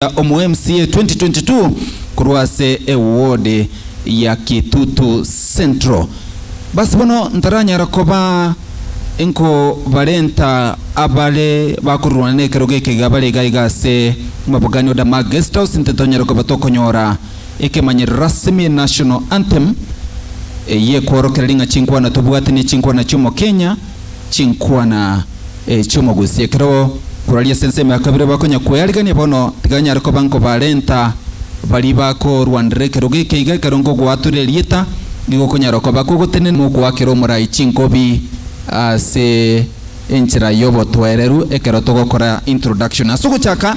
gochia omo MCA 2022 korwa ase eward ya Kitutu Central. Basi bono ntaranyara koba enko barenta abare bakorurwana nekerogo ekeiga bare iga iga ase Mabogani Order Mark Guesthouse nte tonyare koba tokonyora ekemanyerero rasimi National Anthem eye kworokera ring'a chinkwana tobwate ne chinkwana chiomokenya chinkwana chi'omogusi. Ekero koraria ase ensemo ya kabere bakonya kwearigania bono, tiga nyare koba nkobarenta baria bakoruanera ekerogo eke iga ekero nkogoatora erieta, nigo okonyara koba kogotenena mokoakera omorai chinkobi ase enchera y'obotoereru ekero togokora introduction ase ogochaka.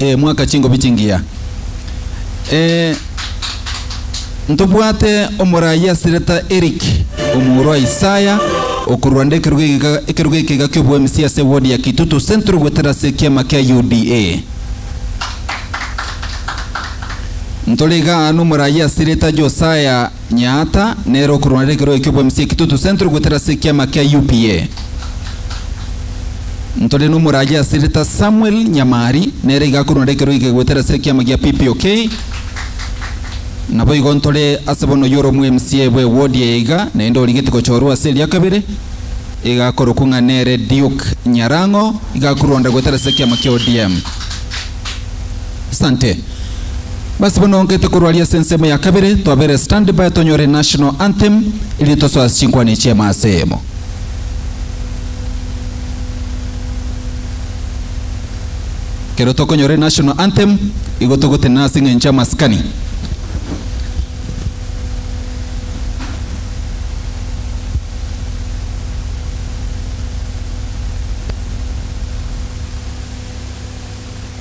Ee, mwaka chingobi chingiya. Ee, ntobwate omoraai ase reta Eric, omorwa Isaya, okorwa nde ekeruga egeka, ekeruga ekega ki'obo-MC ase ward ya Kitutu Central goetera ase ekiama kia UDA. Ntore iga aa nomoraai ase reta Josiah Nyaata nere okorwana na ekerogo eki'obwemusi ekitutu sentro goetera ase ekiama kia UPA. Ntore n'omoragia ase Rita Samuel Nyamari nere iga akorwana na ekerogo eke goetera ase ekiama gia PPOK. Naboigo ntore ase bono oyio ore omoMCA bwe ward eye iga naende origeti gochorwa ase eria kabere iga akorokwa ng'a nere Duke Nyarang'o iga akorwanda goetera ase ekiama kia ODM. Asante. Basi bono ngete korwa aria ase ensemo ya kabere, twabere stand by tonyore national anthem erinde tosoe ase chinkwana echi amasemo. Ekero tokonyora enational anthem igo togotenena ase eng'encho amasikani.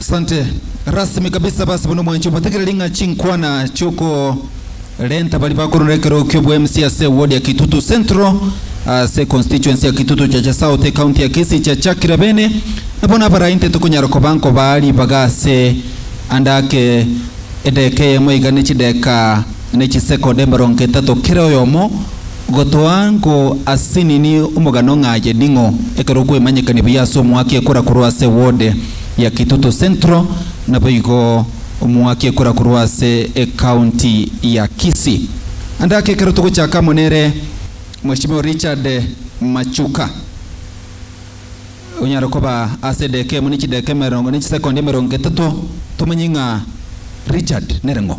Asante. Rasmi kabisa basi bono mwanche obotegera ring'a chinkwana chioko renta bari bakorora ekero kio bwa MC ase ward ya Kitutu Central ase constituency ya Kitutu Chacha South county ya Kisii chiachakire bene na bono abare ainte tokonyara koba nkobaa ribaga ase andake edeka eyemo iga ne chideka ne chisekoda emerongo etato kera oyomo Gotoa nko ase nini omogano ng'a aye ning'o? Ekero kwemanyekani buya ase omwaki ekora korwa ase wode ya Kitutu Central, naboigo omwaki ekora korwa ase ecounty ya Kisii. Ande ake ekero togochaka amo nere Mweshimiwa Richard Machuka, onyare koba ase edeka emo ne chideka emerongo ne chisekondi emerongo etato, tomanye ng'a Richard nere ng'o.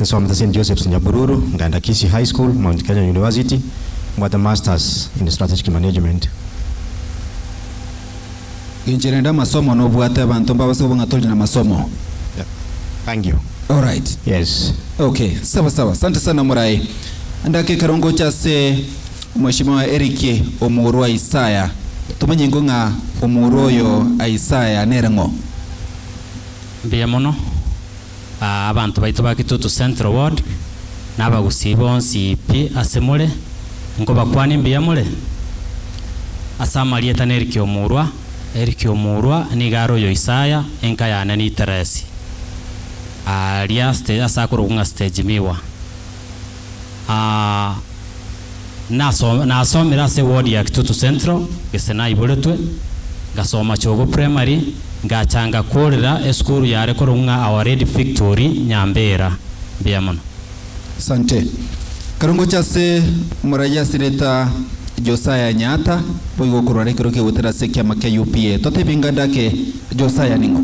Nsomete St Joseph's Nyabururu, ngaenda Kisii High School, Mount Kenya University, mbwate Masters in Strategic Management. Inche rende amasomo nobwate abanto mbabase koba ng'a tori namasomo. Thank you. Alright. Yes. Ok, sawa sawa. Sante sana morayi. Endagaka ekero ngocha ase Mweshimiwa Eric omorwa Isaya, tomanye ingo ng'a omorwa oyo Isaya nere ng'o? Mbuya mono. Aa abanto baito ba Kitutu Central Ward na abagusii bonsi pi ase more, nkobakwania mbuya more. Ase amarieta na Eric Omurwa, Eric Omurwa nigo are oyo Isaya enka yane niteresi. Aa ria stage ase akorokwa ng'a stage miwa. aa naso nasomire ase ward ya Kitutu Central gese naiboretwe ngasoma Chogo Primary ngacha ngakorera esukuru yare korokwo ng'a Our Lady Victory Nyambera. Mbuya mono. Asante. Ekero ngocha ase omoraia ase rieta Josiah Nyaata, boigo okorwara ekero kegotera ase ekiama kia UPA. Totebie nganda ake Josiah ning'o?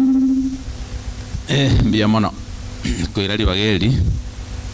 Eh, mbuya mono. Koira ribaga eri.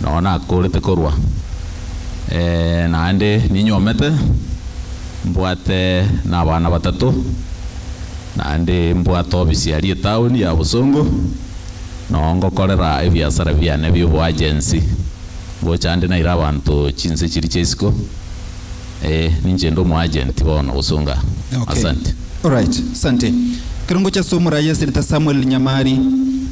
noo nakoorete korwa, ee, naende ninyomete, mbwate nabana batato, naende mbwate obisiaria etaoni ya bosongo, noo ngokorera ebiasara biane bi'oboagensi, ngocha ande naire abanto chinse chiria chi'isiko, ee, ninche inde omoagenti bono gosonga aa. Okay. Asante. Alright. Asante. Ekero ngocha ase omoraia Senator Samuel Nyamari,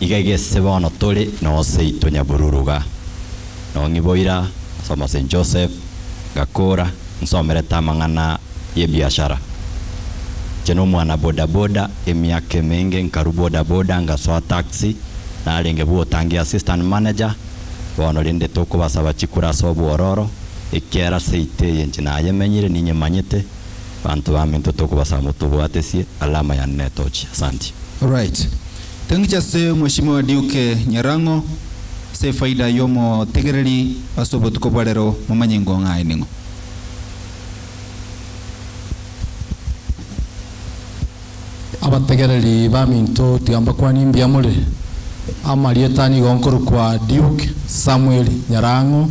Iga gese bono tore noseito nyabururu iga, nong'iboira as'omo St. Joseph, ngakora nsomerete amang'ana y'ebiashara. Inche nomwana bodaboda emiaka emenge nkarwa bodaboda ngasoa taxi, narenge bwotangia assistant manager, bono rende tokobasaba chikura as'obwororo, ekiara seito eye inche nayemenyire ninyemanyete, banto baminto tokobasaba motobwatesie alama yane netochi. Asanti. Alright. Tengicha ase Mweshimiwa Duke Nyarang'o, ase efaida y'omotegereri ase obotuko bwa rero momanye ngong'a aye ning'o. Abategereri baminto tiga mbakwanie mbuya more. Amarieta nigo nkorokwa Duke Samuel Nyarang'o.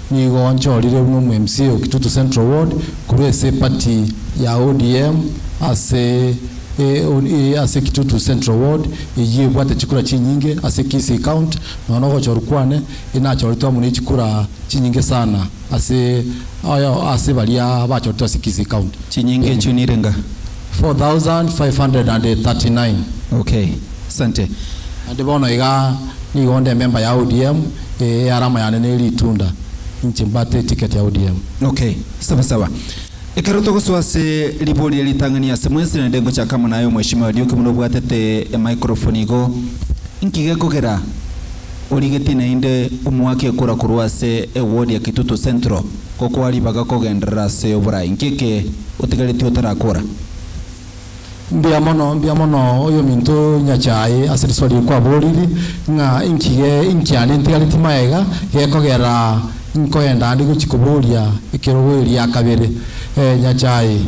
Nigo nchorire buna omwMCA o Kitutu Central Ward korwa ase eparty ya ODM ase ase Kitutu Central Ward eyio ebwate chikura chinyinge ase Kisii County nonya nogochorwa kwane inachoritwe amo nechikura chinyinge sana ase ase baria bachoritwe ase Kisii County. Chinyinge echio nire nga, 4539. Okay, sante. Naende bono iga nigo onde ememba ya ODM, ee earama yane neri itunda, inche mbate eticket ya ODM. Okay, saba saba. Ekero togosoa ase ribori ya ritang'ani ase mwensi naende ngochaka amo naye Omweshimiwa Ariuki buna obwatete emicrophone igo, inki gekogera origetie naende omoake ekura korwa ase eward ya Kitutu Central? Gokoa ribaga kogenderera ase oborai. Nki eke otigaretie otarakora? Mbuya mono, mbuya mono, oyominto Nyachae, ase risoa riria kwaboriri ng'a inki ge inki ande ntigareti magega gekogera nkoenda ande gochi koboria ekerogo eria kabere. Ee, Nyachae.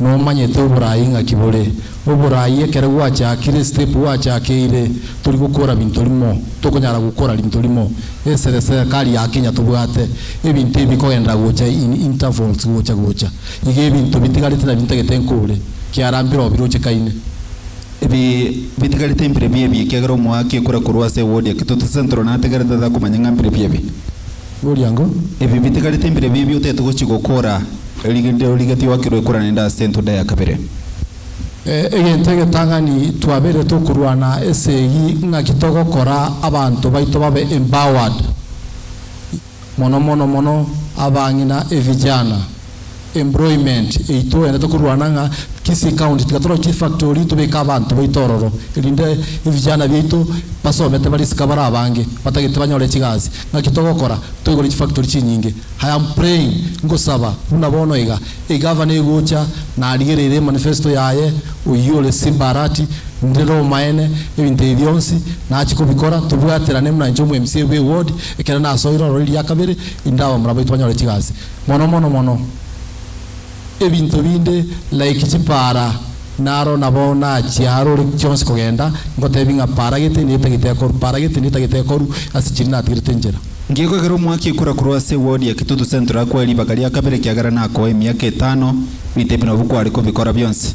nomanyete oboraai ng'aki bore. Oboraai ekero gwachakire, step gwachakeire, tori gokora binto rimo, tokonyara gokora rinto rimo. Esere serikari ya Kenya tobwate, ebinto ebi bikogenderera gocha in intervals gocha gocha. Iga ebinto bitigarete nabio ntagete nkore, kiarambire oo biroche kaine. Ebi bitigarete mbire biebi ekiagera omoaki ekore korwa ase ewodi ya Kitutu Central nategerete tatakomanya ng'a mbire biebi. Noriango, ebi bitigarete mbire bibi otaete gochia gokora erinde origetie oakerwe ekorana ende ase entunda ya kabere. Egento egetang'ani twabeire tokorwana ase eyio ng'aki togokora abanto baito babe empowered, mono mono mono abang'ina, evijana. employment yaito rende tokorwana ng'a Kisii county tiga tore chifactory tobeke abanto baito ororo erinde ebijana biaito basomete bare isiko bare abange batagete banyore chigasi naki togokora toigure chifactory chinyinge I am praying ngosaba buna bono iga egavana egocha narigereire emanifesto yaye oyio ore Simba Arati ndire omaene ebinto ebi bionsi nachi kobikora tobwaterane buna inche omwa MCA bw'eward ekero nasoire ororo riria kabere erinde abamura baito banyore chigasi. Mono mono mono, ebinto binde like chipaara, naro nabo nachia aro ore chionsi kogenda, ngotebi ng'a paara gete niyo etagete ekoru, paara gete niyo etagete ekoru, ase chiria natigerete nchera. Ngiye koegera omwaki ekura korwa ase ewodi ya Kitutu Central akoe ribaga ria kabere ekiagera nakoe emiaka etano, rita ebi nabwo kware kobikora bionsi.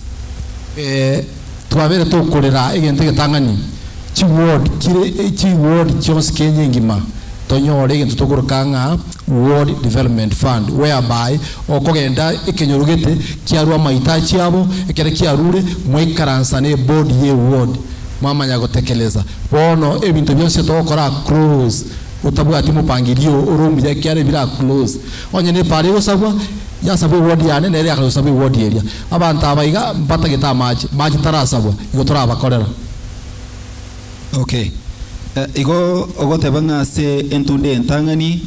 Ee, twabeire tokorera egento egetang'ani, chiward, kire, chiward chionsi Kenya engima, tonyore egento tokoroka ng'a Ward Development Fund, whereby okogenda ekenyoro gete kiarue amahitaji abo, ekero kiarure mwaikaransa ne board ye ward mwamanya gotekeleza. Bono ebinto bionsi otogokora a close otabwati mopangirio ore omuya ekiara ebire a close. Onye ne paara egosabwa, yasabwa eward yane nere akayosabwa eward eria. Abanto aba iga mbatagete amache, mache tarasabwa, igo torabakorera. Okay. Eh, igo ogoteba ng'a ase entunda eye entang'ani,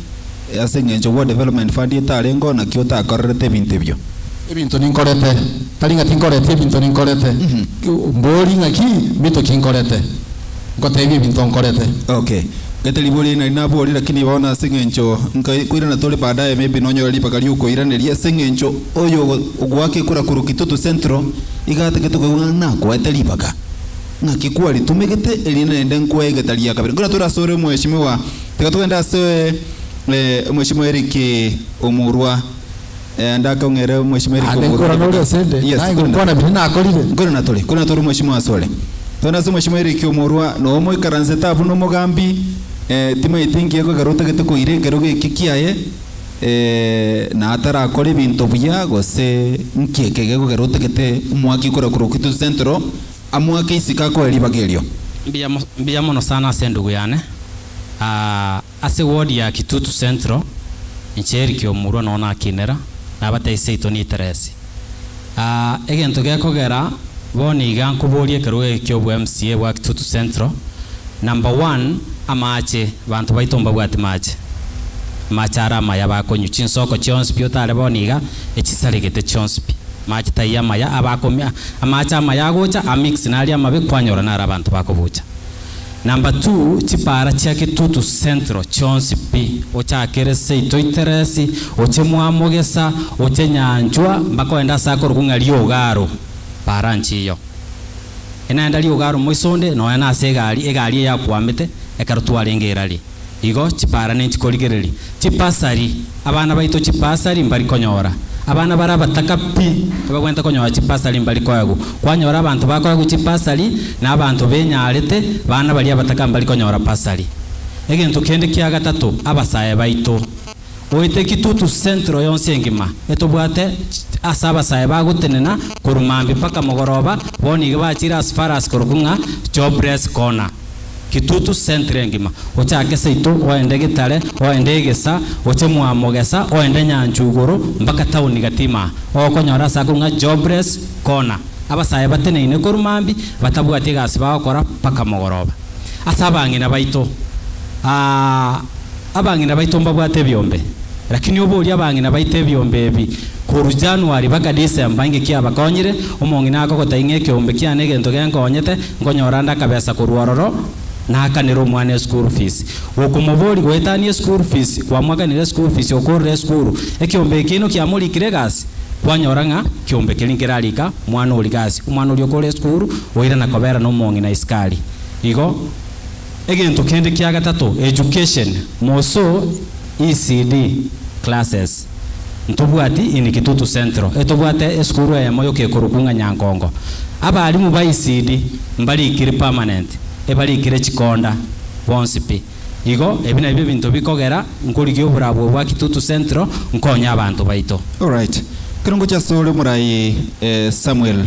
eh, ase eng'encho World Development Fund etarengeo naki otakorerete ebinto ebio? Ebinto ninkorete, tari ng'a tinkoreti ebinto ninkorete. Mbori ng'aki mbinto ki nkorete. Nkotebia ebinto nkorete. Okay. Gete riboria eri nari naborie lakini bono ase eng'encho nkai koirana tore baadaye maybe nonyore ribaga riokoiraneria ase eng'encho oyo ogo ogoaka ekura korwa Kitutu Central iga atagete koigwa ng'a nakoete ribaga. Naki kwaritomegete, erinde naende nkoe egeta ria kabere. Nkoratora ase ore omweshimiwa. Tiga togende ase omweshimiwa Eric omorua. Ndake ong'ere omweshimiwa Eric omorua. Naende nkore nore ase inde. Yes. Naye gokwana biria nakorire. Nkore natore. Nkore natore omweshimiwa ase ore. Togende ase omweshimiwa Eric omorua. Noe omoikaransete abwo na omogambi. Timanyeti enki egokora ekero otagete koira ekero geki kiaye. Na atarakore ebinto buya gose nki ekegekogera otagete mwaki okorakorwa Kitui Central. Amoake isiko akoe ribaga erio. Mbuya mbuya mono sana ase endugu yane aah ase ward ya kitutu central inche Eric omurwa noo nakinera nabatebia seito niteresi aah egento gekogera bono iga nkoboria ekerogo eke kiobo mca bwa kitutu central number one amache banto baito mbabwati mache amache are amaya bakonywa chinsoko chionsi pi otare bono iga echisaregete chionsi pi Amaache taiyo amaya abakomia, amaache amaya agocha amix naria amabe kwanyora naro abanto bakobucha. Number two, chipaara chia Kitutu Central chionsi pi, ochakere seito iteresi, oche mwamogesa, oche nyanchwa, mpaka oende ase akorokwa ng'a Riogaru, paara nchiyo. Enaenda Riogaru moisonde nonya nase egari, egari eyakwamete, ekero twarenge erari. Igo chipaarane nchikorigereria. Chipasari, abana baito chipasari mbari konyora. Abana bare abataka pi ebagwenerete konyora chipasari mbari koegwa. Kwanyora abanto bakoegwa chipasari na abanto benyarete, abana baria abataka mbari konyora pasari. Egento kende kia gatato, abasae baito. Oite Kitutu Central yonsi engima etobwate ase abasae bagotenena korwa mambia mpaka mogoroba, bono iga bachire as far as korokwo ng'a Jobless Corner. Kitutu centre engima, ochake Saito oende Gitare, oende Egesa, oche Mwamogesa, oende Nyanchwa igoro mpaka town gatima aa, ogokonyora ase ako ng'a jobless corner. Abasae bateneine korwa mambia, batabwati egasi bagokora mpaka mogoroba. Ase abang'ina baito, aa. Abang'ina baito mbabwate ebiombe, lakini obe oria abang'ina baito ebiombe ebi korwa January baka December inki kiabakonyire? Omong'ina akogotai ng'a ekeombe kiane egento genkonyete, nkonyora nde akabesa korwa ororo, nakanere omwana eschool fees. Gokomoboria goetania eschool fees, kwamoakanire eschool fees okorora esukuru, ekeombe eke inwe kiamorikire egasi? Kwanyora ng'a ekeombe keria nkerarika omwana oria gasi, omwana oria okorora esukuru oirana kobera nomong'ina isikari. Igo. Egento kende kia gatato, education, moso ECD classes. Ntobwati in Kitutu Central etobwate esukuru eyemo yokekorokwu ng'a Nyankongo. Abalimu ba ECD mbarikiri permanent, ebarikire chikonda bonsi pi. Igo ebi nabio ebinto bikogera nkorigia oborabwo bwa Kitutu Central nkonye abanto baito. Alright, kero ngochia asore omorai Samuel.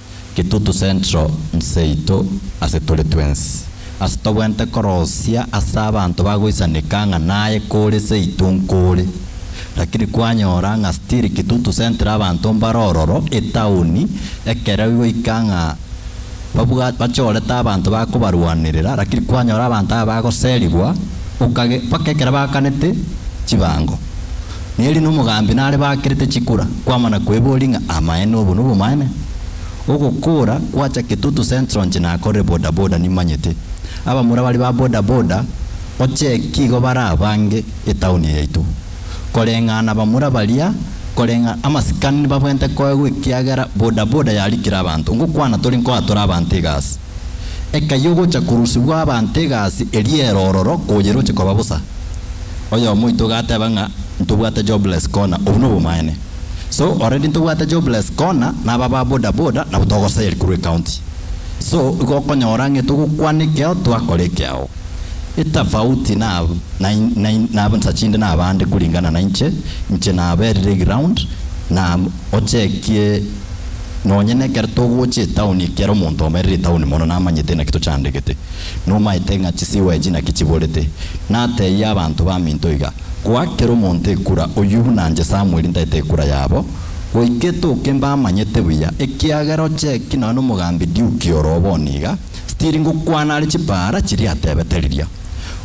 Kitutu Central nseito ase tore twensi. Ase tobwente korosia ase abanto bagoisaneka ng'a naye kore seito nkore. Lakini kwanyora ng'a still Kitutu Central abanto mbare ororo etaoni ekero igoika ng'a babwa bachorete abanto bakobarwanerera lakini kwanyora abanto aba bagoserigwa okage mpaka ekero baakanete chibango. na erio nomogambi nare bakerete chikura kwamana kweboria ng'a amaene obo nobomaene. Ogokora gwacha Kitutu Central nche nakorire boda boda nimanyete abamura baria ba boda boda ocheki igo barabange etown yaito koreng'ana abamura baria koreng'a amasikani nibabwente koegwa ekiagera boda boda yarikire abanto ngokwana tore nkoa tore abanto egasi Ekayia ogocha korusibwa abanto egasi eria erororo koyeroche koba bosa. Oyomo oito iga ateba ng'a ntobwate jobless corner, obwo nobomaene. So already ntobwate jobless corner na aba ba boda boda nabo togoseri korwa ecounty. So igo okonyora ng'a etogokwana ekeo twakora ekeao. Etafauti na na na chinde na abande kuringana nainche, inche naberire eground na ochekie. Nonya nekero togocha etaoni ekiara omonto omerire etaoni mono namanyete naki tochandegete, nomaete ng'a chisigwa echi naki chiborete. Nateebie abanto baminto iga, Goakera omonto ekura, oyio buna inche Samweli ntaete ekura yabo, goika etoke mbamanyete buya, ekiagera ocheki nonya nomogambi Diuki oro obo niga. Stiri ngokwana are chibaara chiria atebete riria.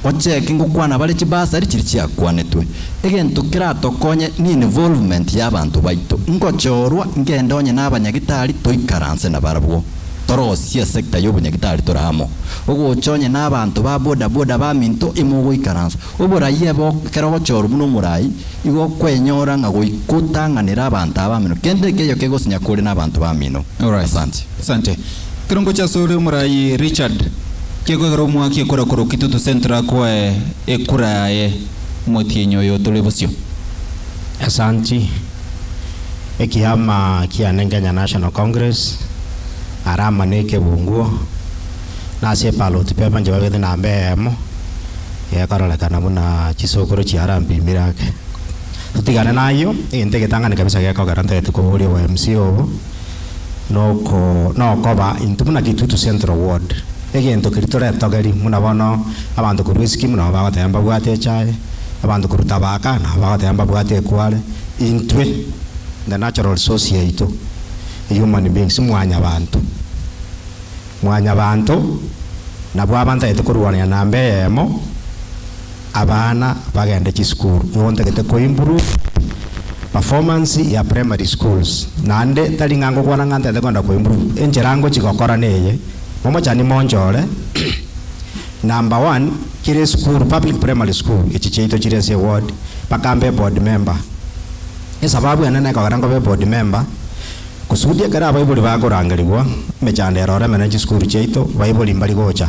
Ocheke ngokwana bare chibasari chiri chiakwanetwe. Egento keratokonye ne involvement ya abanto baito. Ngochorwa ngende onye na abanyagitari toikaranse nabarabwo. Torosie sector ya obonyagitari tore amo. Ogocha onye na abanto ba boda boda baminto ime ogoikaransa. Oborai ebe ekero ogochorwa buna omorai igo okwenyora ng'a goika otang'anere abanto abamino. Kende ekeyio kegosinya kore na abanto bamino. Asante. Ekero ngochia asore omoraai Richard, tiga kwegera omwaki ekura korokwa itutu centre akwae ekura yaye omotienyi oyo otore bosio. Asanti. Ekiama kia Nen Kenya National Congress are ama ne Kebunguo nase eparloti pepa nchibagete namba eyemo egekarorekana buna chisokoro chia Rampimire ake. Totigane nayio egento egetang'ani kabisa gekogera ntagete koboria obo mca obo. noko nokoba intwe buna Kitutu Central Ward, egento keria toretogeri buna bono abanto korwa Esikimu nabo bagoteba mbabwate echae, abanto korwa Thabaka nabo bagoteba mbabwate ekware, intwe the natural resource yaito e human beings mwanyabanto, mwanyabanto nabwo abantaete korwanera namba eyemo. abana bagende chisukuru, nigo ntagete ko improve performance ya primary schools, naende tari ng'a ngokwana ng'a ntagete kogenda ko improve, enchera ngochia gokora neye, momochani monchore, number one, kera esukuru, public primary school, echi chiaito chire ase eward, mpaka mbe eboard member. Esababu enene ekogera nkobe eboard member, kusudi ekero abaibori bakorangerigwa, emechando ero oreme ne chisukuru chiaito, baibori mbari gocha.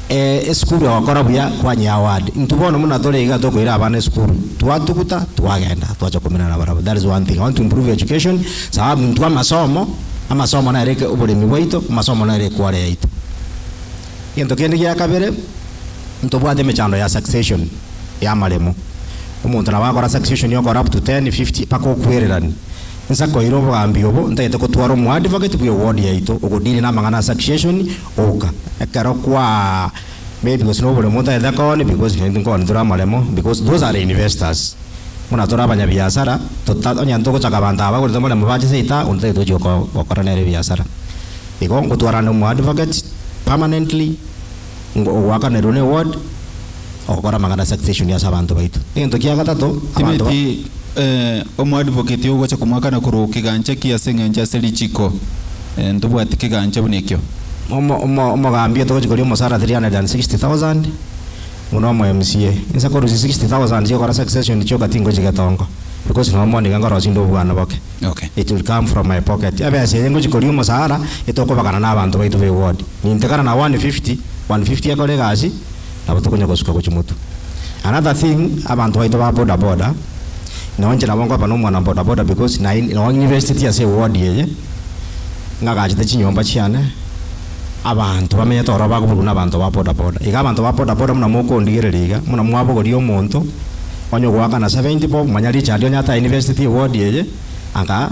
Ee, esukuru egokora buya kwanyea award. Intwe bono buna tore iga tokoira abana esukuru, twatuguta, twagenda, twacha kominana barabwo. That is one thing. I want to improve education, sababu intwe amasomo, amasomo nere eke oboremi bwaito, amasomo nere ekware yaito. Egento kende gia kabere, ntobwate emechando ya succession ya amaremo. Omonto nabo agakora succession okora up to ten, fifty, mpaka okwererani. Inse koira obogambi obo, ntagete kotwara omo advocate bwe ward yaito, ogo deal na amang'ana a succession, Oka, ekero kwaa maybe gose na oboremo otaete koni because onye tinkoni tore amaremo because those are investors buna tore abanyabiasara tota onye togochaka abanto aba bagorete omoremo bache seita onde tari tochi gokora nere ebiasara igo ngotwarana na omo advocate permanently ngo ogoakanerwe na eward. ogokora amang'ana a succession ase abanto baito. Egento kia gatato, abanto ba. Timeti, omoadvocate ogocha komoakana korwa o kegancha ki ase eng'encho ase richiko, ntobwati kegancha buna ekio. Omo, omo, omogambi otogochi koria omosara 360,000, buna omo MCA. Inse korusia 60,000 chia ogokora succession chioka tingochi getongo, because nonya mono nigo nkorosia inde obwana boke. Okay. It will come from my pocket. Ebesa eye ngochi koria omosara, etokobagana na abanto baito be ward. Nintekana na 150, 150 ekore egasi, nabo tokonya gosuka gochia Motu. Another thing abanto baito ba boda boda nao inche nabo nkoba nomwana boda boda because naye nao ninvesteti ase eward eye ngagachete chinyomba chiane abanto bamenyete ororo bakoburwa na abanto ba boda boda iga abanto ba boda boda buna mokondigereria iga buna mwabogoria omonto onye ogoakana seventy bob manya richard onye atainvesteti eward eye anga.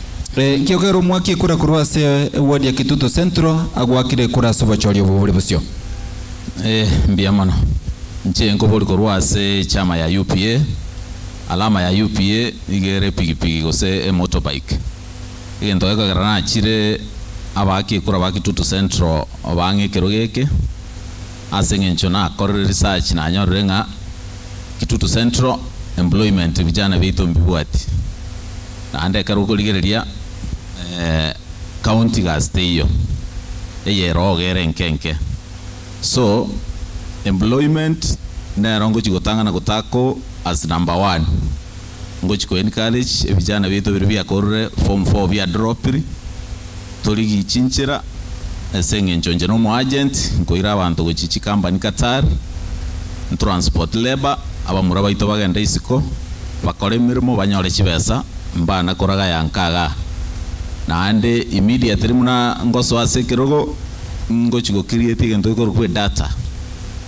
Inki okere omwaki ekura korwa ase eward ya Kitutu Central agwakire ekura ase obochori obo bore bosio? Eh, mbuya mono. Inche nkobori korwa ase echiama ya UPA, alama ya UPA nigo ere epigipigi gose emotorbike. Egento gekogera nachire abaaki ekura ba Kitutu Central bang'e ekerogo eke, Ase eng'encho nakorire research nanyorire ng'a Kitutu Central employment vijana biaito mbibwati naende ekero okorigereria county gasi teiyo eyerogo ere enke enke so employment nero ngochi gotang'ana gotako as number one. ngochia ko encourage ebijana biaito ebire biakorire form four bia dropiri tori gichinchera ase eng'encho inche nomo agent nkoira abanto gochia chikambani Qatar ntransport labour abamura baito bagende isiko bakore emeremo banyore chibesa mbana koragaya nkaga naende immediately buna ngosoa ase ekerogo ngochia go create egento gekorokwa edata.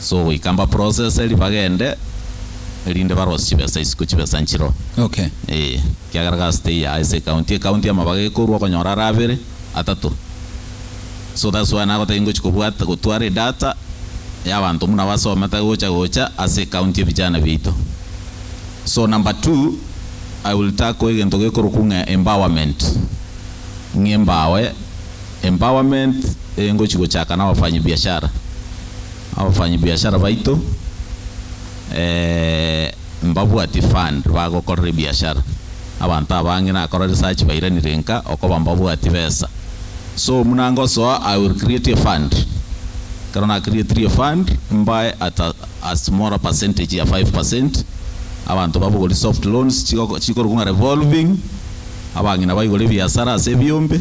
so goika mba process eri bagende erinde barosie chibesa isiko chibesa nchiro Okay. ee kiagera gasi teiyo aa ase ecounty ecounty amabaga ekorwa okonyora are abere atato so that's why nagotaki ngochi kobwata gotwara edata ya abanto buna basome tari gocha gocha ase ecounty ebijana biaito so number two I will tackle egento gekorokwa ng'a empowerment ng'a embawe. Empowerment eye ngochia gochaka na abafanyi biashara, abafanyi biashara baito mbabwatie fund bagokorera ebiashara, abanto abange nakora research bairanire nka okoba mbabwatie besa so buna ngosoa I will create a fund ekero na creatirie fund mbae at a smaller percentage ya five percent abanto babogorie soft loans chikorokwa ng'a revolving abang'ina baigore ebiasara ase ebiombe.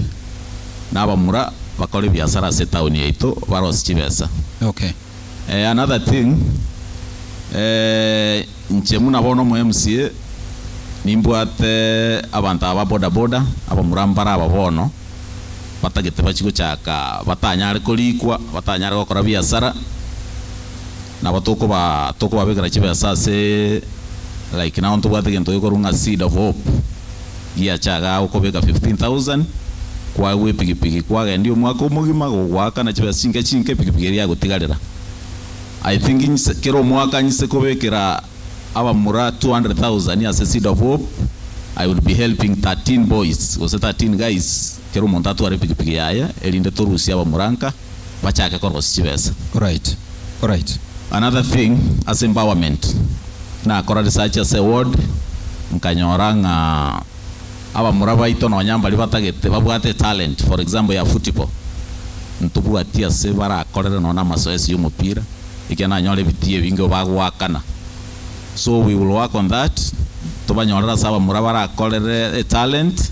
na abamura bakore ebiasara ase etaoni yaito barose chibesa. Okay. Eh, another thing, eh, inche buna bono omo mca nimbwate abanto aba ba boda boda abamura mbare aba bono batagete bachie gochaka batanyare korikwa, batanyare gokora biasara, Nabo tokoba tokobabekera chibesa ase like now ntobwate gento gekorwa ng'a seed of hope giacha iga agokobeka 15,000 kwagwa epigipigi kwagendia omwaka omogima gogoaka na chibesa chinke chinke epigipigi eria yagotigarera I think nse kera omwaka nse kobekera abamura 200,000 ase seed of hope I will be helping 13 boys gose 13 guys kera omonto atware epigipigi yaye erinde torusie abamura nka. bachake korwa ase chibesa. Alright alright. Another thing ase empowerment nakora research ase ward nkanyora ng'a abamura baito nonya mbaria batagete babwate talent for example ya football ntobwati ase barakorere nonya namasoesi ya omopira ekiagera nanyore ebitii ebinge bagoakana so we will work on that tobanyorere ase abamura barakorere etalent.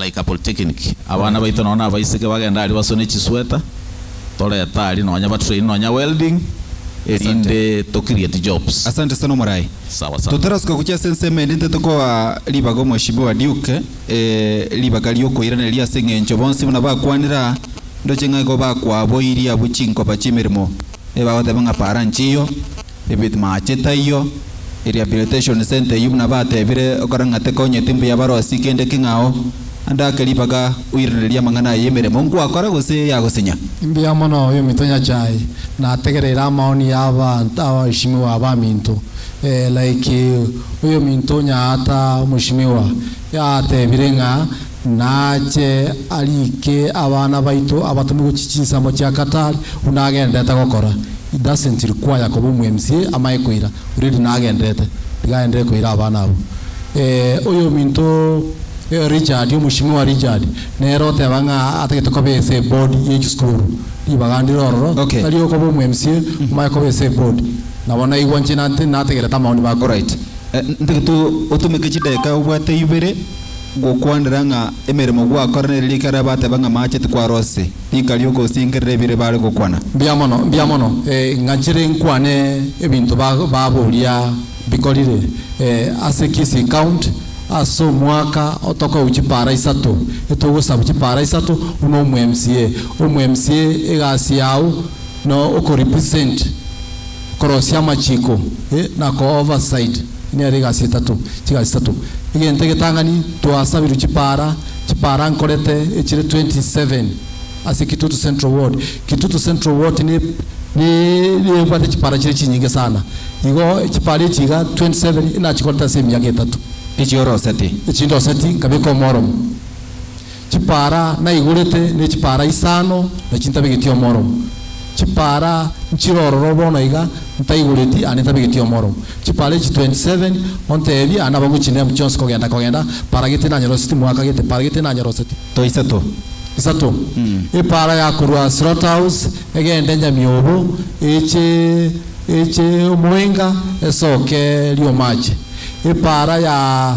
Like a polytechnic, abana baito nonye nabaiseke bagenda aria basone chisweta, toreta aria nonye ba train nonye welding erinde to create jobs. Asante sana omorai. Sawa sana. Totarasuka gochia ase ensemo ende intwe tokoa ribaga omweshimiwa Duke ribaga riokoiraneria ase engencho bonsi buna bakwanire aa ndoche ng'a igo bakwaboirie abwo chinkoba chiemeremo ebagoteba ng'a para nchiyo Ebetmaachi taiyo, e Rehabilitation Centre eyio buna batebire okora ng'a tekonya etimbu ya barosi kende king'ao, ande ake ribaga oiranererie amang'ana aya y'emeremo ngwakora gose eyagosinya. Mbuya mono oyo Omitonyachae nategereire amaoni y'abaanto abaishimiwa abaminto, ee, like oyominto onyaata omoshimiwa, Yatebire ng'a nache ariike abana baito abatome gochia chinsemo chia Qatar, buna agenderete gokora. He doesn't require koba omwMCA amanye koira, already nagenderete, tiga aenderere koira abana abwo. Eh, oyominto eh, Richard, Omweshimiwa Richard, nere oteba ng'a atagete koba ase eboard ye chisukuru, ribaga ndire ororo, Okay. tari okoba omwMCA, omanye koba ase eboard. Nabo naigwa inche nate- nategerete amaoni bako. Alright. Ntagete otomeke chidakika obwate ibere gokwanera ng'a emeremo gwakora nere riikari abatebe ng'a amache tikwarosete riika riogosingerera ebire bare gokwana. Mbuya mono, mbuya mono. Ng'achire nkwane ebinto baboria bikorire ase Kisii County ase omwaka otokau chipara isato etogosabu chipara isato buna omo mca. Omo mca egasi yao no okorepresent. Korosia amachiko, e, na ko overside, e nero egasi etato, chigasi tato. Egento egetang'ani, twasabirwe chipaara, chipaara nkorete echire 27 ase Kitutu Central Ward. Kitutu Central Ward ne, ne, nebwate chipaara chire chinyinge sana. Igo chipaara echi iga 27 e nachikorete ase emiaka etato. Echi oroseti. Echi ndoseti, nkabeka omoromo. Chipara naigorete nechipara isano na chintabegeti omoromo. Chipara nchire ororo bono iga ntaigoreti ande ntabegeti omoromo. Chipara echi 27 ontebie ande abagochina emo chionsi kogenda kogenda, para gete nanyoroseti mwaka gete, para gete nanyoroseti. To isato. Isato. Epara ya korwa Slaughterhouse egende Nyamiobo eche eche omoenga esoke Riomaache. Epara ya.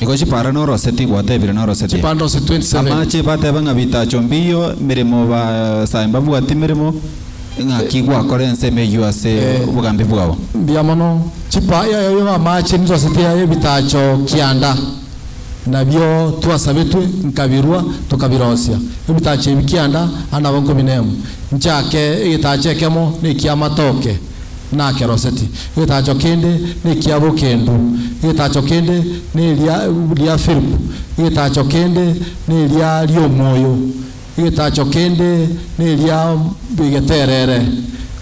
Nigo chipara noroseti gwatebire noroseti. Chipara noroseti 27. Amache bateba ng'a bitacho mbiyo emeremo basae mbabwati emeremo ng'aki gwakora ense emeyio ase obogambi bwao. Mbuya mono. Chipa ya yoyo amache niroseti ya ebitacho kianda nabio twasabetwe nkabirua tokabirosia ebitacho ebi kianda ande nabo nkobinemu nchake egetacho ekemo nekiamatoke. nakeroseti, egetacho kende nekia bokendu, egetacho kende neria ria Philip, egetacho kende neria riomoyo, egetacho kende neria egeterere,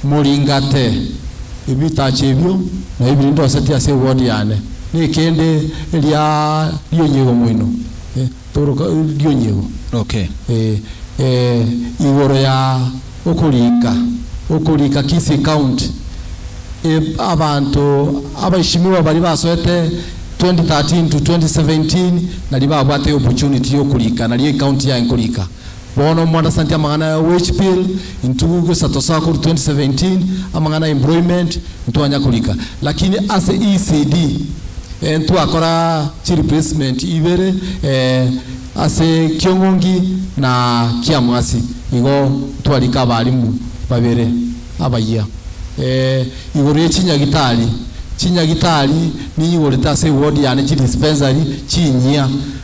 moringate ebitacho ebio nabio biria ndoseti ase ewodi yane, nekende eria rionyegwa moino. Toroka rionyego roke igoro ya okorika okorika Kisii County. Abanto abaishimiwa baria basoete 2013 to 2017 naria babwate opportunity yokorika nario ecounty yaye nkorika. Bono mwandasantie amang'ana ya wage bill intugugu isato sa korwa 2017, amang'ana ya employment ntwanya korika, lakini ase ECD eh ntwakora chi replacement ibere eh ase Kiong'ongi na Kiamwasi igo ntwarika abalimu babere abayia eh igoro ye chinyagitari. Chinyagitari ninyigorete ase eward yane chi dispensary chinyia.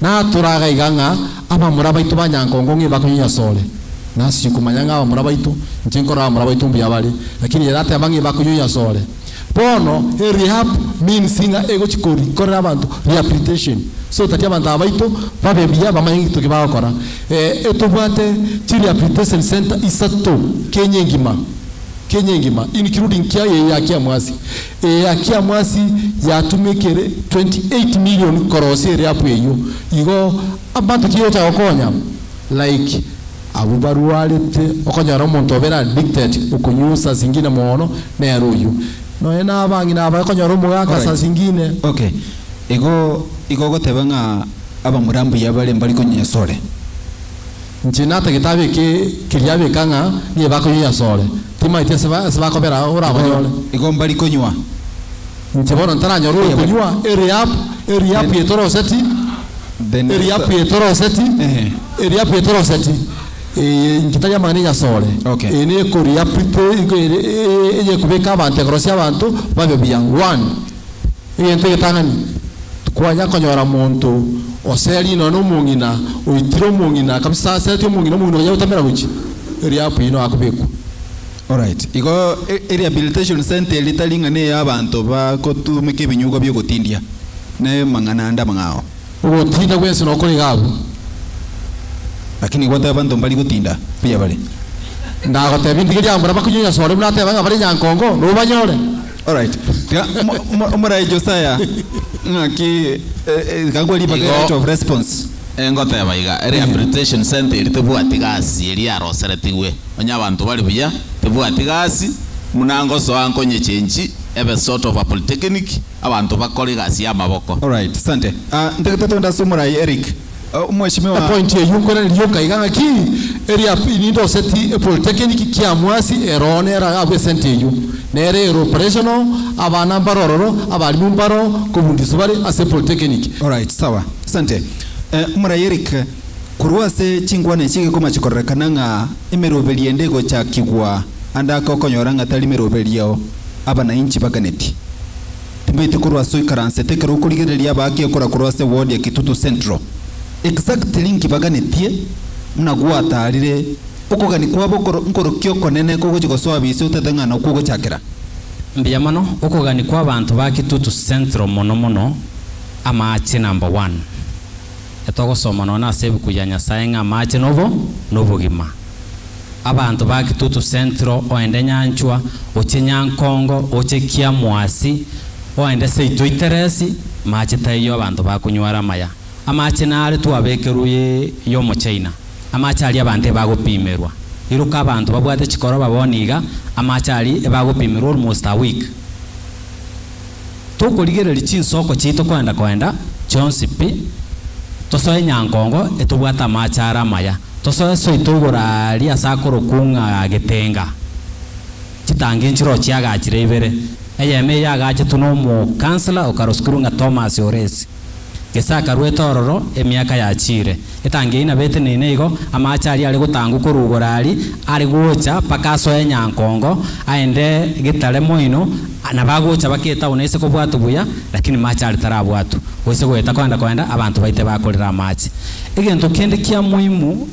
Natura gaiga ng'a abamura baito ba nyankongo ng'imba konyinyasore. Nasiche komanya ng'a abamura baito, inche nkorora abamura baito mbuya bare, lakini ere ateba ng'imba konyinyasore. Bono e rehab means ng'a egochi kori korera abanto rehabilitation, so that abanto aba baito babe buya bamanye ng'intoki bagokora. Eh, etobwate chi rehabilitation centre isato Kenya engima, Kenya engima including Kiagegi ya Kiamwasi. Eakiamasi yatumekire 28 million korosia eriapu eyio, igo abanto tiga gocha gokonya like abwo barwarete, okonyora omonto obere addicted okonywa saa zingine mono nere oyio, nonya na abang'ina aba okonyora omogaka saa Alright. zingine. Ok. Igo igo ogoteba ng'a abamura mbuya bare mbari konywa esore. Inche nata getabu eke keria abeka ng'a niye bakonywa asore, timaeti ase ase bakobera Igo, orabanyore. igo mbari konywa. Inche bono ntaranyora Eria bari. orokonywa eriap, eriapu Then, etoroseti, the next, eriapu etoroseti, ehe. eriapu etoroseti, eye inche tari amang'ana ya asore, Okay. eye nekoriapu ito iko ere eye eye ekobeka abanto ekorosia abanto babe buya, one. Egento egetang'ani, tikwanya konyora monto oseria nonya nomong'ina oitire omong'ina kabisa ase ati omong'ina omong'ina onya gotamera gochia erio apo inwe akobekwa. Alright, igo eRehabilitation Centre eri tari ng'a ne y'abanto bagotumeka ebinyugwa bi'ogotindia, nere mang'ana ande amang'ao. Ogotinda bwensi nokore iga abwo. Lakini igo oteba abanto mbari gotinda mbuya bare. Ndagotebie ndigeria mbuna bakunyonya sore buna ateba ng'a bare nyankongo, nobanyore. Alright. Tiga omo- omo- omorai Josiah ng'aki eh, eh, gakwa ribaga Igo- right of response. Eh, ngoteba iga rehabilitation centre eri tebwati gasi eri yaroseretigwe onye abanto bari buya tebwati gasi muna ngosoa nkonyechenchi ebe sort of a polytechnic abanto bakore egasi y'amaboko Alright, sante. Ah, ntagete twende ase omorai Eric. Omweshimiwa. Epointi eyio nkorende rioka iga ng'aki, eria fee nindoseti epolitekiniki kia mwasi ero nera abwo esenti eyio nere ero operational, abana mbaro ororo, abalimu mbaro kobundiswa bare ase epolitekiniki. Alright sawa. Asante. Omoraiyo Eric, korwa ase chinkwana echi gekoma chikorerekana ng'a emeroberio ende egochakigwa ande ake okonyora ng'a tari meroberio abanainchi baganeti. Tibaite korwa ase oikaransete ekero okorigereria abaake okora korwa ase ward ya Kitutu Central. Exactly inki baganetie buna gwataarire okogania kwabo okoro nkorokia okonene kogochia gosoa bise otaete ng'a nokwo ogochakera? Mbuya mono, okogania kwa abanto ba Kitutu Central mono mono amaache number one. Etogosoma nonye ase ebuku ya Nyasae ng'a amaache nobo nobogima. Abanto ba Kitutu Central oende Nyanchwa oche Nyankongo oche Kiamwasi oende seito Iteresi mache taiyo abanto bakonyware amaya amache nare twabekerwe ye yomochaina amache aria abanto ebagopimerwa iruka abanto babwate chikoroba bono iga amache aria ebagopimerwa almost a week tokorigereria chinsoko chiaito koenda koenda chionsi pi, tosoe nyankongo etobwate amaache are amaya, tosoe soito igoro aria ase akorokwa ng'a Getenga, chitangi nchirochio chiagachire ibere, eyemo eye yagachetwe nomokansla okaroskerwa ng'a Thomas Oresi. Gese akarwete ororo emiaka yachiire. Etangi eyio nabo eteneine igo, amaache aria are gotangwa korugora aria are gocha mpaka asoe Nyankongo, aende getare moino, nabo agocha mpaka etauni aise kobwatwa buya, lakini maache aria tarabwatwa. Goise goeta koenda koenda, abanto baite bakorera amaache. Egento kende kia moimu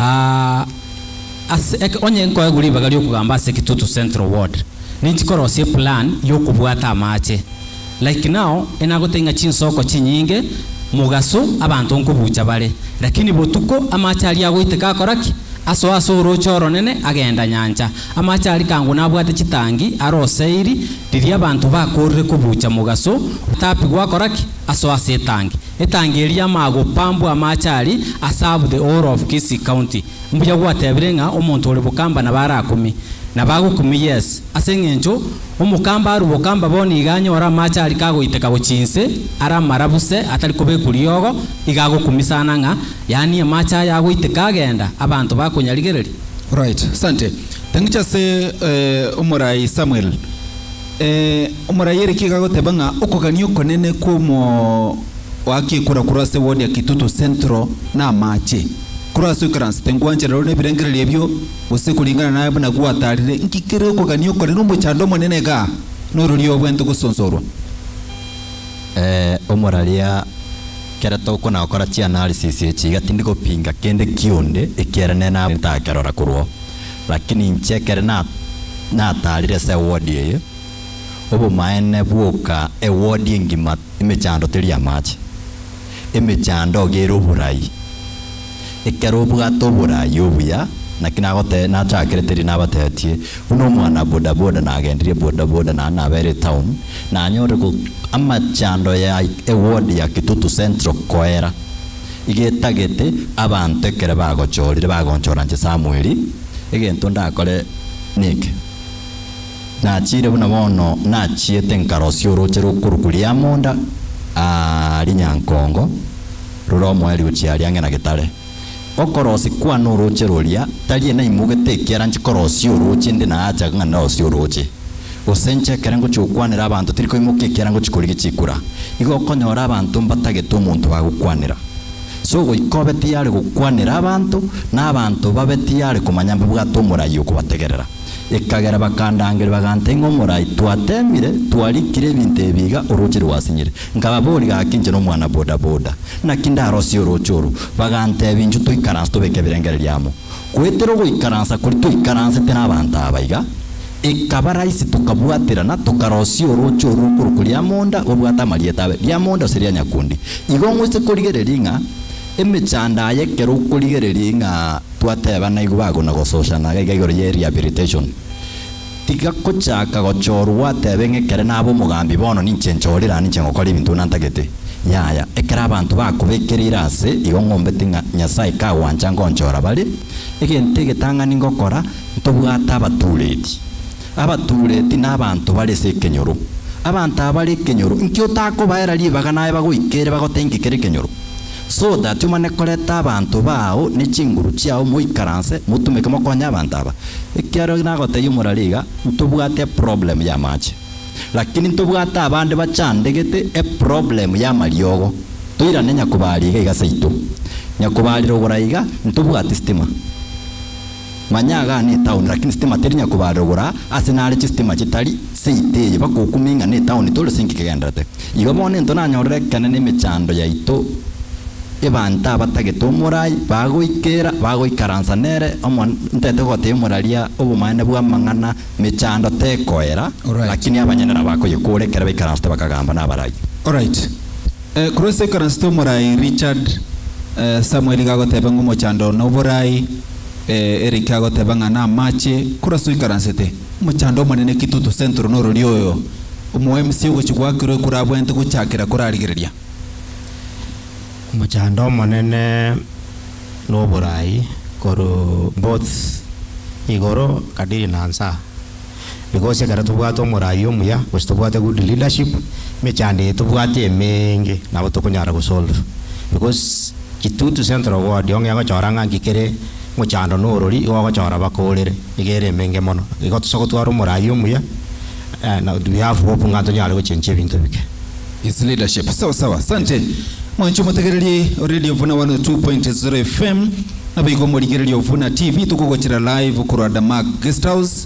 Aa, ase eke, onye nkoegwa ribaga ri'okogamba ase Kitutu Central Ward, ninchi korosia eplan y'okobwata amache. Like now, enagotebi ng'a chinsoko chinyinge, Mugaso, abanto nkobucha bare, lakini botuko amache aria agoiteka akora ki? Asoa ase orooche oronene agenda nyancha. Amache aria kang'u nabwate chitangi are oseiri, riria abanto bakoorire kobucha Mugaso, otapigwa akora ki? Asoa ase etangi. Etangeri y'amagopa mbwa amache ari a serve the whole of Kisii county. Mbuya gwatebire ng'a omonto ore bokamba nabo arakume. Nabo agokume yes. Ase engencho omokamba arwe bokamba bono iga anyore amache ari kagoiteka gochia inse are amarabu se atari kobekwa riogo iga agokume sana ng'a yaani amache aya agoiteka agenda abanto bakonyarigereria. Alright, asante. Thank you ase omorai Samuel. Ee, omoraiyeria kiigo agoteba ng'a okogania okonene kw'omoakia ekura korwa ase ward ya Kitutu Central n'amaache. Korwa ase oikaransete ngwanchera rore nebirengererio ebio, gose koringana naye buna gwataarire, inki kere okogania okonene omochando omonene igaa n'ororio obwente gosonsorwa? Ee, omoraria, kera tokonakora chianalysis echi iga tindi gopinga kende kionde ekiaranene nabo ntakerora korwao. Lakini inche ekero nataarire ase ewodi eye, obomaene bwoka ewodi engima emechando teri amache, emechando iga ere oborai. Ekero obwate oborai obuya, naki nagotebia, nachakire teri nabateetie, buna omwana bodaboda nagendirie bodaboda naende nabeire etown, nanyorire amachando ya ewodi ya Kitutu Central koera. igetagete abanto ekero bagochorire bagonchora inche Samweli, egento ndakore neke? Nachiire buna bono nachiete nkarosia orooche rw'okoruku ri'amonda aa rinyankongo rore omoeri gochia aria ang'e na getare. Okorosi kwane orooche roria, tari enaimogete ekiara nchikorosie orooche inde naachaga ng'a nderosie orooche. Gose inche ekero ngochia gokwanera abanto tiri koimoka ekiagera ngochia korigia chikura, igo okonyora abanto mbatagete omonto bagokwanera. Ase ogoika obe tiyare gokwanera abanto, na abanto babe tiyare komanya mbabwate omorai okobategerera. Ekagera bakandangeria baganta ing'o omorai, twateemire, twarikire ebinto ebi iga, orooche rwasinyire. Nkababoria gaki inche nomwana bodaboda, naki ndarosie orooche oro? Baganteebia inchuo toikaranse tobeke ebirengererio amo. Goetera ogoikaransa koria twaikaransete nabaanto aba iga, ekaba raisi tokabwaterana, tokarosia orooche orwo okorokwa Riamonda obwate amarieta abe, Riamonda gose Rianyakundi. Igo ngoise korigereria ng'a emechando aya ekero okorigereria ng'a twateba naigwa bagona gososhana iga igoro ye rehabilitation. Tiga gochaka gochorwa gwatebe ng'a ekero nabe omogambi bono ninche nchorire na ninche ngokora ebinto nantagete. Yaya, ekero abanto bakobekereire aase, igo ngombete ng'a Nyasae kagwancha ngonchora bare. Egento egetang'ani ngokora, ntobwate abatuureti. Abatuureti nabaanto bare ase ekenyoro. Abanto aba bare ekenyoro, inki otakobaera ribaga naye bagoika ere bagotee inki kere ekenyoro? So that omane koreta abanto bao ne chinguru chiao moikaranse motumeke mokonye abanto aba. Ekiagera nagotebia omorari iga, ntobwate eproblem y'amache. Lakini ntobwate abande bachandegete eproblem y'amariogo. Toirane Nyakobari iga iga seito. Nyakobarire oborai iga, ntobwati sitima. Manya iga aa netaoni, lakini sitima teri nyakobarogora ase nare chisitima chitari seite eye, bakokumia ing'a netaoni tore sinki kegenderete. Igo bono into nanyorire ekenene emechando yaito, ebanto abatagete omorai bagoikera, bagoikaransa nere omo ntete gotebia omoraria obomanene bw'amang'ana, mechando tekoera, lakini abanyene nabakoyekora ekero baikaransete bakagamba nabarai. Alright. Korwa ase ekaransete omorai Richard, Samuel iga agotebe ng'omochando noborai. Ee, Eric agoteba ng'a namache kurasu oikaransete. Omochando omonene ki toto sentro norori oyo omo MC ogochi gwakirwe ekurabwente gochakera korarigereria. Omochando omonene noborai koru both igoro kadiri na nsa. Because ekero tobwate omoraai omuya gose tobwate good leadership, emechando eye tobwate emeeenge nabo tokonyara gosolve. Because Kitutu Central Ward ong'e egochora ng'a nki kere mochando na orori igo ogochora bakoorere, nigo ere emeenge mono. Igo tosa gotwara omoraai omuya na we have hope ng'a ntonyare gochencha ebinto bike. Is leadership. Sawa sawa. Asante. Mwanche omotegereri o Radio Ovuna 102.0 FM, naboigo omorigereria Ovuna TV tokogochera live korwa Damac Guesthouse,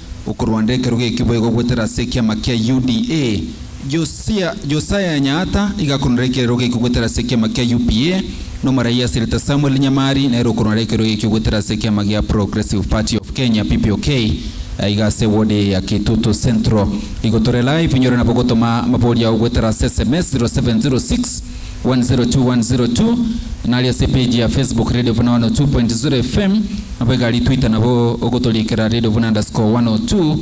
Okorwanda ekerogo ekio boigo goetera ase ekiama kia UDA. Josia, Josiah Nyaata, iga akorwandera ekerogo ekio goetera ase ekiama kia UPA, na omoraiyo ase rieta Samuel Nyamari nere okorwandera ekerogo ekio goetera ase ekiama gia Progressive Party of Kenya, PPOK, aiga ase ewodi eye ya Kitutu Central. Igo tore live, inyore nabo gotoma amabori ao goetera ase sms 0706. 102.102 Nari ase page ya Facebook Radio Buna 102.0 FM Nabo egari Twitter nabo ogotoriikera Radio Buna underscore 102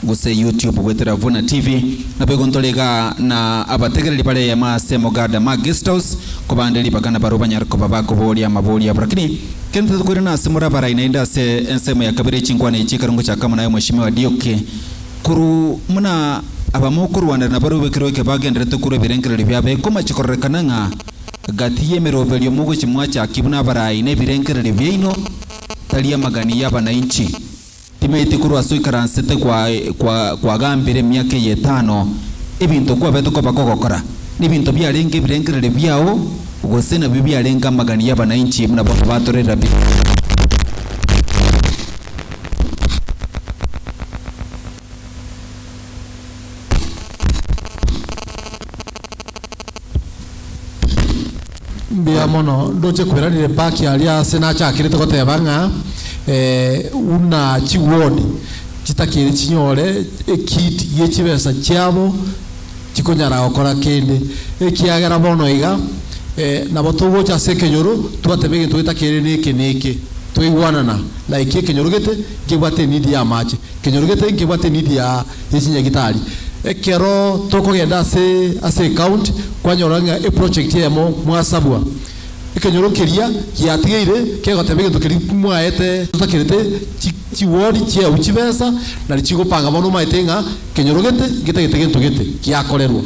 Gose YouTube goetera Buna TV Nabo igontora iga na abategereri bare eyemo ase Mogada ma Guest House Kobande ribaga na barwo banyare koba bakoboria amabori abo Rakini kende totokoirana ase more abarai naende ase ensemo ya kabere chinkwana echi ekero ngochakamo naye Mweshimiwa Diuki Korwa buna abamokorwanera na baria obekerwe ekebe agenderete korwa ebirengererio biabo, ekoma chikororekana ng'a gati y'emeroberio mogochia mwachakia buna abarai na ebirengererio biaino, tari amagani y'abanainchi. Timaeti korwa ase oikaransete kwagambire emiaka eye etano, ebinto kwabete koba kogokora, nebinto biarenge ebirengererio biao, gose nabio biarenge amagani y'abanainchi buna bono batorera bire. Mbuya mono, ndoche kweranire mpaki aria ase nachakerete goteba ng'a eh, buna chiwodi chitakeri chinyore ekit gie chibesa chiabo, chikonyara gokora kende, ekiagera bono iga nabo togocha ase ekenyoro, twateba egento getakeire neke neke, twaigwanana, like ekenyoro gete nkebwate enidi y'amache, ekenyoro gete nkebwate enidi ya yechinyagitari. Ekero tokogenda ase ase ecounty, kwanyora ng'a eproject eyemo mwasabwa, Ekenyoro keria giatigeire kegoteba egento keria mwaete totakerete chi chigori chiao chibesa nari chigopanga bono omaete ng'a kenyoro gete getagete gento gete giakorerwa.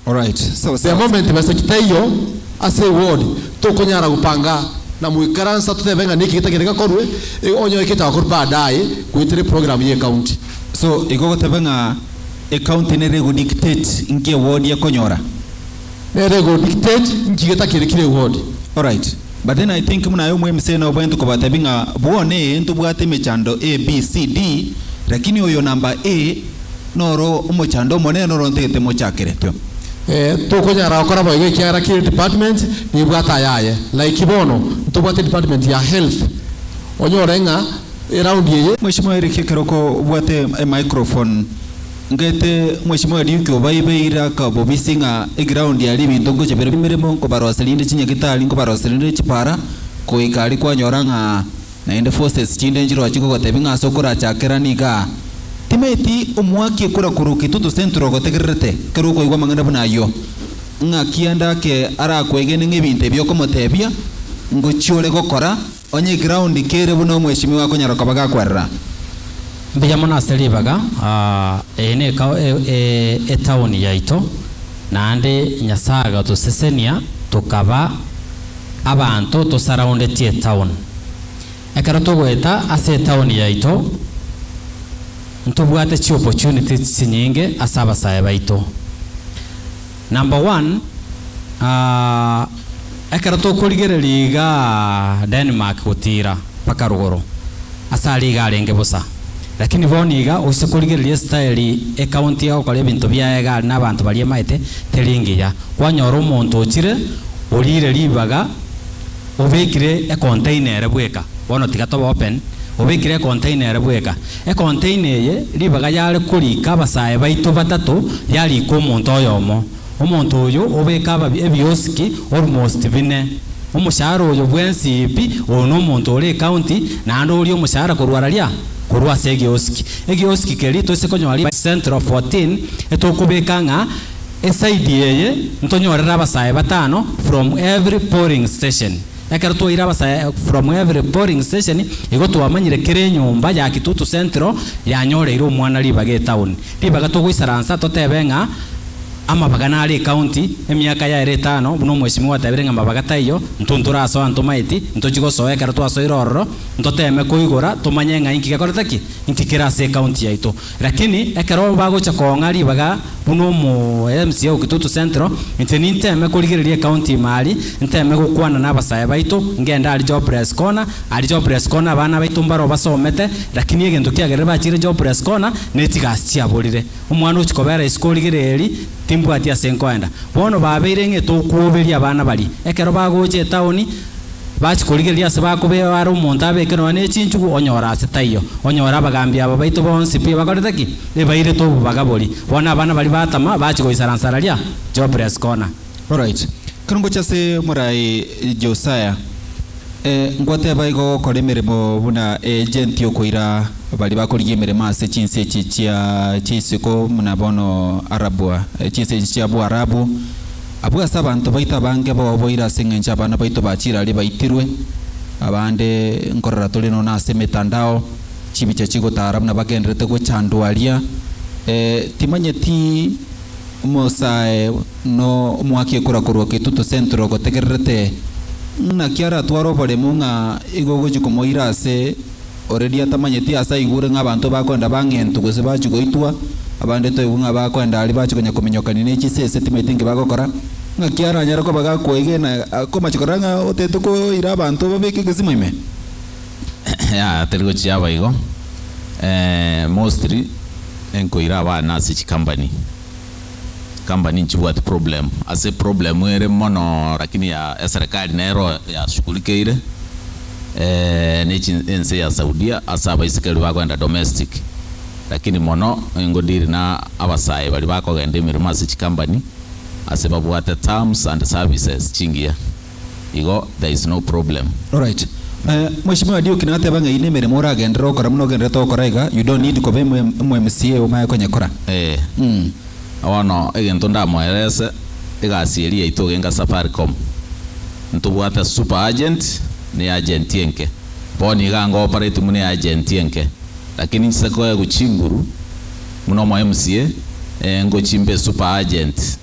Alright sawa The sawa. moment besa chitaiyo ase egori tokonyara gopanga na moikaransa totebe ng'a niki getagete gakorwe e onye oekete akorwe baadaye goetera eprogram ye county. So igo ogoteba ng'a ecounty nere ego dictate nki ewodi ekonyora? Nere good kiteji inki getakerekire igo odi alright. But then I think buna aye omwemise nobweento kobatebia ng'a bono ee ntobwate emechando ABCD lakini oyo number A noro omochando omonene noro ntagete mochakeretwe. Ee, tokonyara gokora boigo ekiagera kera edepartment nebwate ayaye. Like bono ntobwate edepartment ya health, onyore ng'a eround eye. Mweshimiwa Eric ekero okobwate emicrophone. Ngete omosibwa wa Duke obaibe ira akabobisia ng'a eground yaria ebinto ngocha bire emeremo nkobarosia rinde chinyake tari nkobarosia rinde chipara goika aria kwanyora ng'a naende forces chinde nchiroche ngogotebia ng'a ase okorachake rani igaa timeti omwaki ekura korwa Kitutu Central ogotegererete ekero okoigwa amang'ana buna ayio ng'a kianda ake arakwegene ng'a ebinto ebi okomotebia ngochia ore gokora Onye egraondi kere buna omweshimiwa akonyara koba gakwerera. Mbuya mono ase ribaga eye ne etaoni yaito, naende Nyasae agatosesenia tokaba abanto tosaraundetie etaon. Ekero togoeta ase etaoni yaito ntobwate chi opportunities chinyinge ase abasae baito. Number one, aah, ekero tokorigereria iga Denmark gotiira mpaka rogoro, ase aria iga arenge bosa, lakini bono iga oise korigereria esitayeri ecounty ya gokora ebinto biaye iga aria na abanto baria emaete teri engiya, kwanyora omonto ochire oriire ribaga obekire econtainer ere bweka, bono tiga tobe open, obekire econtainer ere bweka. Ekontaina eye ribaga yare koriika abasae baito batato yariika omonto oyomo. Omonto oyo obeka ababi ebiosiki almost bine. Omoshahara oyo bwensi pi oyo nomonto ore ecounty naende oria omoshahara korwa raria? Korwa ase egeosiki. Egeosiki keria toise konyora ribaga central 14 etokobeka ng'a eside eye ntonyorere abasae batano from every polling station. Ekero twaire abasa from every polling station igo twamanyire kera enyomba ya Kitutu Central yanyoreire omwana ribaga etown ribaga togoisaransa totebe ng'a amabaga naro ecounty emiaka yaero etano buna omweshimiwa atebire ng'a amabaga taiyo ntu ntorasoa ntomaeti ntochi gosoa ekero twasoire ororo ntoteme koigora tomanye ng'a inki gekorete ki inki kere ase ecounty yaito Lakini ekero bagocha koong'a ribaga buna omo MCA o Kitutu Central, inche ninteme korigereria ecounty ime ari, nteme gokwana nabasae baito, ngende aria jobless corner, aria jobless corner abana baito mbaro basomete, lakini egento kiagerire bachire jobless corner nechigasi chiaborire. Omwana ochi kobera isiko origere eri, timbwati ase nkoenda. Bono babeire ng'e tokuoberia abana baria, ekero bagocha etaoni, Bachia korigereria ase bakobeao are omonto abeke nonya ne chinchugu, onyora ase taiyo. Onyore abagaambi aba baito bonsi pi bakorete ki? Ebairete obobaga boria. Bono abana baria batama, bachia goisara nsararia, jobless corner. Alright. Ekero ngochia ase morai Josiah, eh, ngoteba igo ogokora emeremo buna agent yokoira baria bakorigia emeremo ase chinse echi chia chia isiko buna bono Arabua, chinse echi chia Buarabu, Abwo ase abanto baito abange boboire ase engencho abana baito ba chirari baitirwe, abande nkorora tore nono ase emetandao, chibicha chigotara buna bagenderete gochandwa aria, ee, timanyeti omosae no omwaki ekora korwa Ketutu Central gotegererete ng'aki aratware oboremu ng'a igo ogochi komoira ase ore riata manyeti aase aigure ng'a abanto bakoenda bang'entwe gose bachie goitwa, abande toigwe ng'a bakoenda aria bachie konya kominyokania ne chise ise timaeti inki bagokora. Ng'aki aranyare koba gakwegena akomache korora ng'a otaete koira abanto babeke egesimo ime? Yaya tari gochia aba igo, mostly nkoira abana ase chikambani. company nchibwati problem ase problem ere mono lakini ya eserekari nero yashughulikeire nechi ense ya saudia ase abaisikeri bagoenda domestic lakini mono engo deal na abasae baria bakogenda emeremo ase chicompany ase babwate terms and services chingiya. igo there is no problem. Alright. Mweshimiwa Duke nateba ng'ai nemeremo oragenderere gokora buna ogenderete gokora iga, you don't need koba omo mca omanye konyekora. Eeh. Bono egento ndamoerese, egasi eria yaito ogenka Safaricom, ntobwate super agent na eagent enke. Bono iga ngopareti buna eagent enke, lakini nchise koegwa chinguru. Buna omoemsie, ngochia mbe super agent,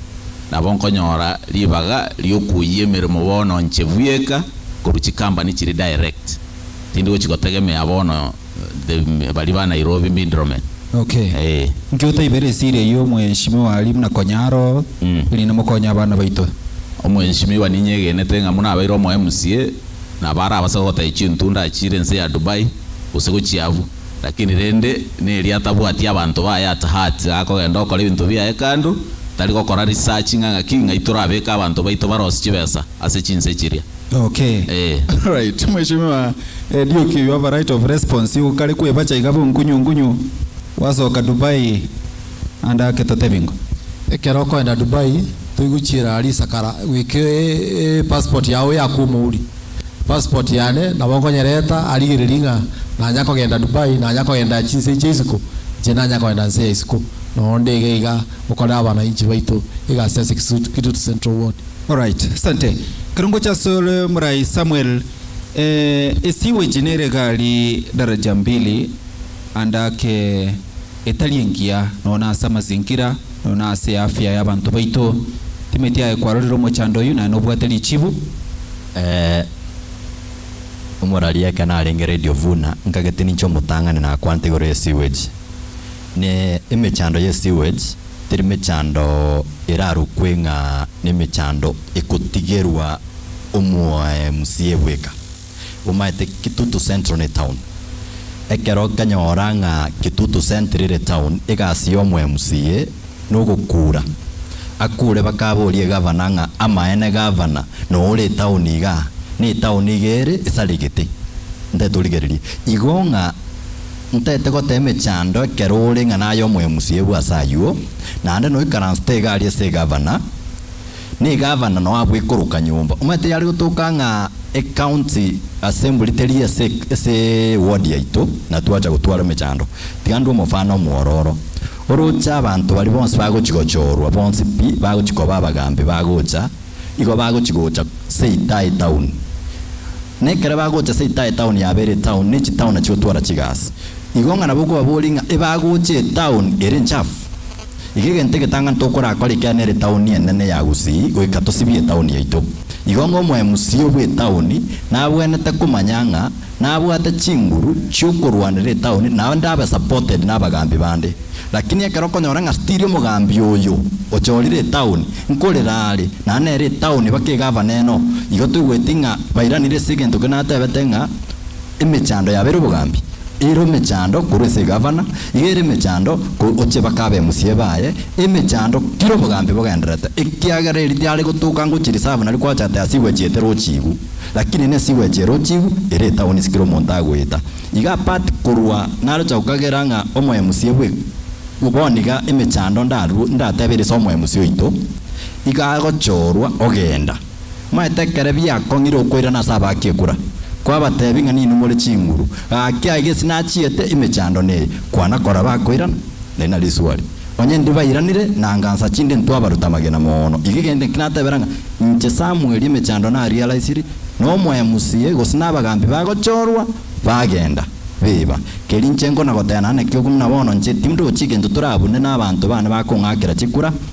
nabo nkonyora ribaga riokuoyia emeremo bono nche bwieka korwa chikambani chiri direct. Tindi gochi gotegemea bono the baria ba Nairobi middlemen. Ok. Ee. Nki otaibera esiri eyio omweshimiwa aria buna konya aro erinde mokonye abana baito? Omweshimiwa ninyegenete ng'a buna abeire omoemsie, nabo arabasabe gotaichia entunda achiire ense ya Dubai, gose gochia abwo. Lakini rende, neria atabwati abanto baye at heart, iga akogenda okora ebinto biaye kando, tari gokora research ng'a ng'aki, ng'ai torabeke abanto baito barose chibesa ase chinse chiria. Okay. Ee. Alright, Mweshimiwa Eriuki, you have a right of response. Igo kare kwebacha iga bonkunyu nkunyu, gwasoka Dubai and ake totebie ng'o. Ekero okoenda Dubai, toigochiera risakara goika passport yao yakomouri. passport yane nabo nkonyereta arigererie ng'a nanya kogenda Dubai nanya kogenda chinse chia isiko inche nanya kogenda nse ya isiko noo ndege iga gokorera abanainchi baito egasi ase Kitutu Central ward. Alright, asante. Ekero ngocha asore morai Samuel, eh, esewage nere egari daraja mbili and ake. etari engiya, nonya ase amazingira, nonya ase eafya y'abanto baito. Timeti aye kwarorire omochando oyio naye nobwate richibu. Ee, omoraria ekero narenge Radio Vuna, nkagete ninche omotang'ani nakwante igoro ye sewage. Ne emechando ye sewage, teri mechando erarokwe ng'a nemechando ekotigerwa omoae musiebwe eka. Bomaete Kitutu Central ne town. Ekero nkanyora ng'a Kitutu Central ere town, egasi y'omo MCA nogokuura. Akuure bakaboria egavana ng'a amaene gavana noe ore etown igaa, na etown iga ere esaregete. Ntaete origereria igo ng'a ntaete goteba emechando ekero ore ng'a naye omo MCA bw'ase ayuo, naende noikaransete egari ase egavana. n'egavana noa bw'ikoroka nyomba omanyete yare gotoka ng'a ecounty assembly teri ase ase eward yaito na twacha gotwara emechando tiga ndue omofano omwororo oroche abanto baria bonsi bagochi gochorwa bonsi pi bagochi koba abagambi bagocha igo bagochi gocha seitae town nekere bagocha seitae town yaba ere etown ne chitown chigotwara chigasi igo ng'a nabo okobaboria ng'a ebagocha etown ere enchafu. Iga egento egetang'ani tokorakora ekiagera nere etaoni enene ya Gusii goika tosibie etaoni yaito. Igo ng'a omoemusia bw'etaoni nabwenerete komanya ng'a nabwate chinguru chi'okorwanera etaoni na onde abe supported n'abagaambi bande. Lakini ekero okonyora ng'a stiri omogaambi oyo ochorire etaoni nkorera are na nere etaoni baka egavana eno, igo toigweti ng'a bairanire ase egento keria natebete ng'a Emechando yabo ere obogambi, ere omechando korwa ase egavana, iga ere emechando ko oche bake abe musie baye, emechando kira obogambi bogenderete, ekiagera erio tiare gotoka ngochi reserve nari kwacha ati ase igwechi ete rochigu, lakini nese igwechi ere ochigu, ere etaoni ase kera omonto agoeta. Iga apart korwa naroche gokagera ng'a omoe musie bwe bono iga emechando ndarue ndatebe ere ase omoe musie oito, iga agochorwa ogenda. Omanyete ekero biakong'ire okoirana ase abaaki ekura, kwabateebia ng'a ninwe more chinguru, gaki aye gesi nachiete emechando neye, kwana koraba akoirana. Nari na risuari, Onye ndibairanire na ngansa chinde ntwabaruta amagena moono, iga egento ki natebera ng'a inche Samweli emechando narealize-ri, na omoyo mosie, gose nabagambi bagochorwa, bagenda. Biba, keri inche nkona goteba naende naki okwo buna bono inche tindi ogochia egento torabune nabaanto baane bakong'akera chikura,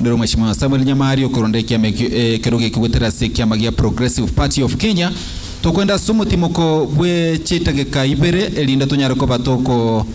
Ndore Mweshimiwa Samuel Nyamari okoronda ekiama ekio ekero gekigwetera ase ekiama gia Progressive Party of Kenya. Tokwenda ase omotimoko bwe chitageka ibere erinde tonyare koba toko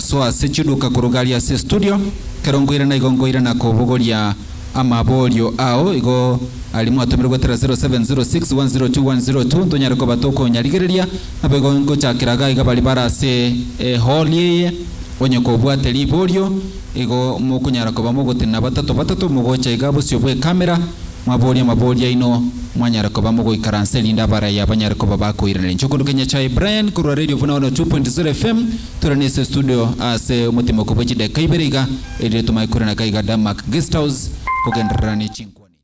soa ase chiduka koruga aria ase estudio. Ekero nkoirana igo nkoirana kobogoria amaborio ao igo aria mwatomire gwetera 0706102102 ntonyare koba tokonyarigereria. Naboigo ngochakera iga iga baria bare ase ehall eye onye kobwate riborio. Igo mokonyara koba mogotena abatato batato mogocha iga bosio bw'ekamera, mwaboria amabori aino, mwanyara koba mogoikaransa erinde abaraiyo abanyare koba bakoiraneria. Inche okorokigwa Nyachae Brian korwa Radio Buna 102.0 FM, tore nase estudio ase omotimoko bwe chidakika ibere iga, erinde tomanye koirana aka iga Denmark Guest House kogendererana ne chinkwana echi.